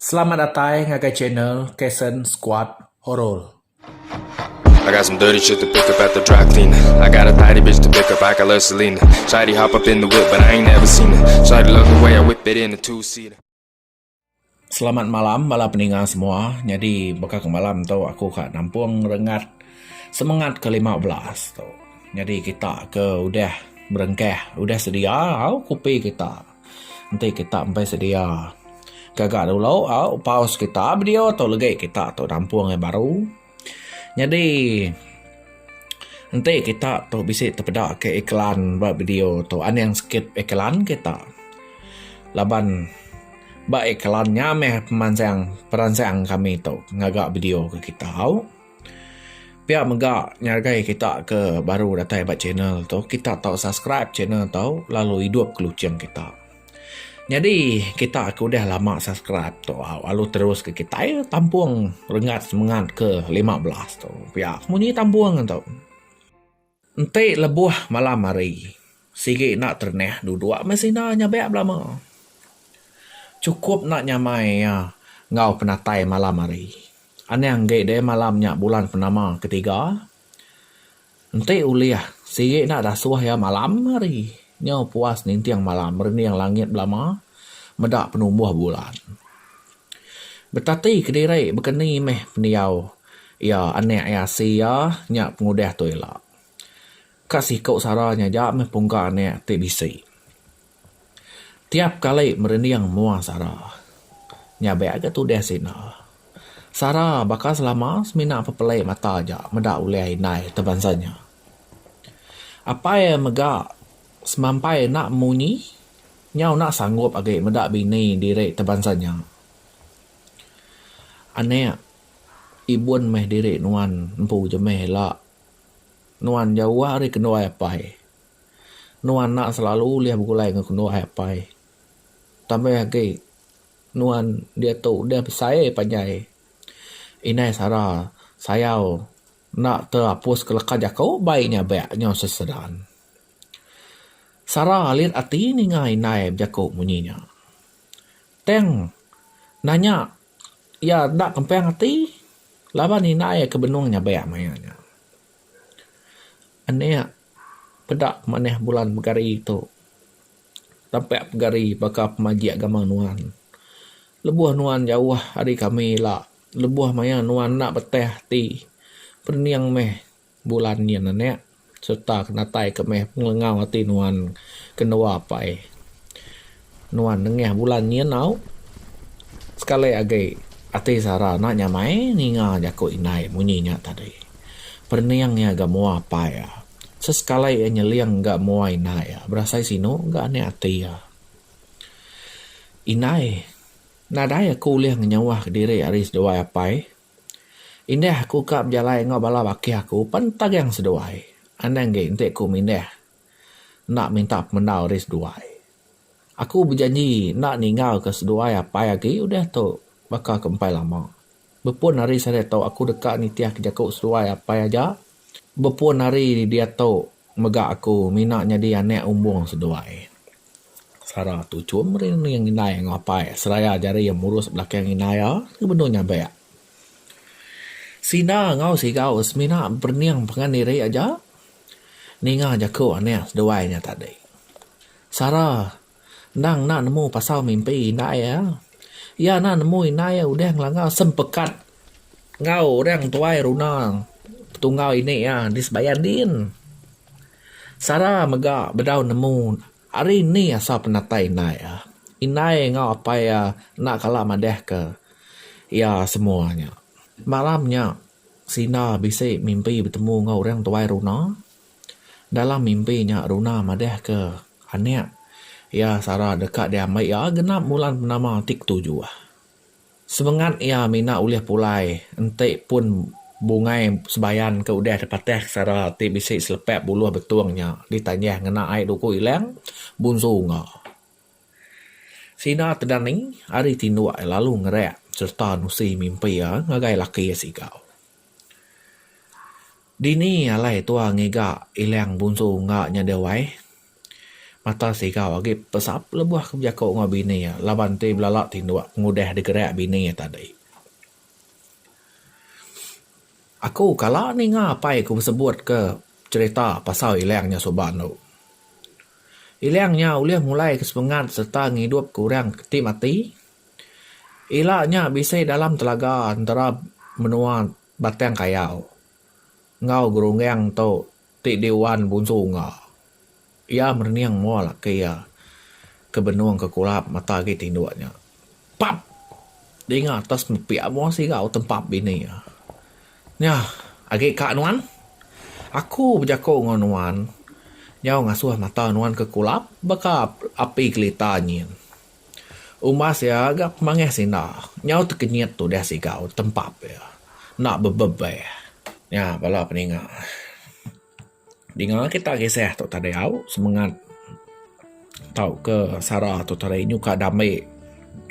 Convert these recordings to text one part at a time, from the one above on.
Selamat datai ngagai channel Kason Squad Horor. I got some dirty shit to pick up at the dry clean I got a tidy bitch to pick up, I got love Selena Shawty hop up in the whip but I ain't never seen her Shawty love the way I whip it in a two seater Selamat malam bala peninga semua. Nyadi baka ke malam tu aku ka nampung rengat semengat ke lima belas tu. Nyadi kita ke udah berengkah udah sedia au kopi kita. Enti kita empai sedia gaga dulu au pause kita video tu legi kita tu nampung yang baru nyadi enti kita tu bisi tepeda ke iklan ba video tu aning sikit iklan kita laban ba iklan nya meh pemansang peransang kami tu ngaga video ke kita. Pia mega ngagai kita ke baru datai ba channel tu kita tau subscribe channel tu lalu idup ke luching kita. Nyadi kita ke udah lama subscribe tu lalu terus ke kitai tampung renggat semengat ke lima belas tu pia munyi tampung tu. Enti lebuh malam hari, sigi enda terenah duduk meh sida nyabak belama. Chukup enda nyamai iya enggau penatai malam hari. Anang enggi deh malam nya bulan purnama ketiga. Enti ulih, sigi enda dasuh iya malam hari. Nyau puas ninting malam, merening langit belama, meda penumbuh bulan. Betati kediri baka ni meh pendiau iya anak iya asi iya nya pengudah tu ila. Ka siku sara nya aja meh pungka anak ti bisi. Tiap kali merinding mua sara. Nya be ga tudah sida. Sara baka selama semina pepeli mata aja meda ulih indai ti bansa nya. Apai mega semampai enda munyi. Nyau enda sanggup agi meda bini diri tebansa nya. Anak, ibun meh diri nuan empu je meh ila. Nuan jauh ari kenduai apai. Nuan enda selalu ulih begulai enggau kenduai apai. Tambah agi, nuan diatu udah besai panjai. Indai sara sayau enda terapuska leka jaku bai nya bak nyau sesedan. Sara alit ati ninga indai bejaku munyi nya. Tang nanya iya enda kempang ati laban indai iya ke benung nyabek maya nya. Anek peda manah bulan pegari tu tampak pegari baka pemajik gamang nuan. Lebuh nuan jauh ari kami ila, lebuh maya nuan enda betah ati pening meh. Bulan nyin anak serta kenatai ke meh pengelengau ati nuan ke dua apai. Nuan nengah bulan nyin au. Sekali agi ati Sara enda nyamai ninga jaku indai munyi nya tadi. Perening iya ga mua apai iya. Sesekali iya nyeling ga mua indai iya berasai sinu ga anak ati iya. Indai, nadai aku ulih ngenyauh diri ari seduai apai. Indah aku ka bejalai enggau bala bakih aku pan tagang seduai. Anang ge enti ku mindah enda minta pemendau ari seduai. Aku bejanji enda ninggal ke seduai apai agi udah tu baka ke empai lama. Bepun hari sehari tu aku deka nitih ke jaku seduai apai aja. Bepun ari diatu mega aku mina nyadi anak umbung seduai. Sara tu chum meri nening indai enggau apai seraya jari iya murus belakang indai iya ke benung nyabek. Sina enggau Sigau semina berening pangan diri aja ninga jaku anak seduai nya tadi. Sara Endang enda nemu pasal mimpi indai iya. Iya enda nemu indai iya udah ngelanggar sempekat enggau orang tuai runa petunggal ini iya di sebayan din. Sara mega bedau nemu ari ni asal penatai indai iya. Indai iya enggau apai iya enda kala madahka iya semua nya. Malam nya, Sina bisi mimpi betemu enggau orang tuai runa. Dalam mimpi nya Runa madahka anak iya Sarah deka diambai iya genap bulan penama ti ketujuh. Semengat iya mina ulih pulai enti pun bungai sebayan ke udah dipatahka Sarah ti bisi selepak buluh betung nya ditanjah ngena ai duku ilang bunsu unga. Sida Tedani ari tinduk lalu ngerak sereta nusi mimpi iya ngagai laki iya siku. Dini alai tua ngiga ilang bunsu ungga nya deh wai. Mata sigau agi pesap lebuh ke bejaku enggau bini iya laban ti belala ti dua pengudah digerak bini iya tadi. Aku kala ninga apai aku besebut ke cherita pasal ilang nya suba anu. Ilang nya ulih mulai ke sepengat sereta ngidup ke orang ti mati. Ila nya bisi dalam telaga entara menua Batang Kayau enggau gerungang tu ti diuan Bunsu Ungga. Iya merening mua laki iya ke benung ke kulap mata agi tinduk nya. Pap! Dinga atas nepia mua sigau tempap bini iya. Nya agi ka nuan? Aku bejaku enggau nuan nyau ngasuh mata nuan ke kulap baka api kelita nyin. Umbas iya ga pemangih sida nyau tekenyit tudah sigau tempap iya enda bebebeh. Nya bala peninga. Dinga kita kisah tu tadi au semengat tauka sara tu tadi nyuka dame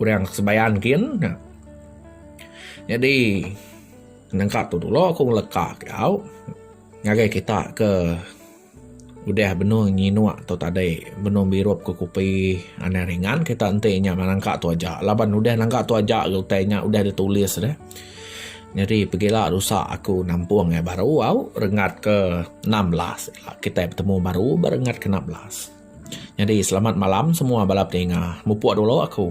orang sebayan kin ne. Nyadi nengka tu dulu aku ngeleka ke au ngagai kita ke. Udah benung nyinuk tu tadi, benung birup ke kupi anang ringan kita enti nya nangka tu aja laban udah nangka tu aja lalu utai nya udah ditulis dah. Nyadi pegila rusa aku nampung iya baru au rengat ke enam belas ila kita betemu baru ba rengat ke enam belas. Nyadi selamat malam semua bala peninga. Mupuk dulu aku.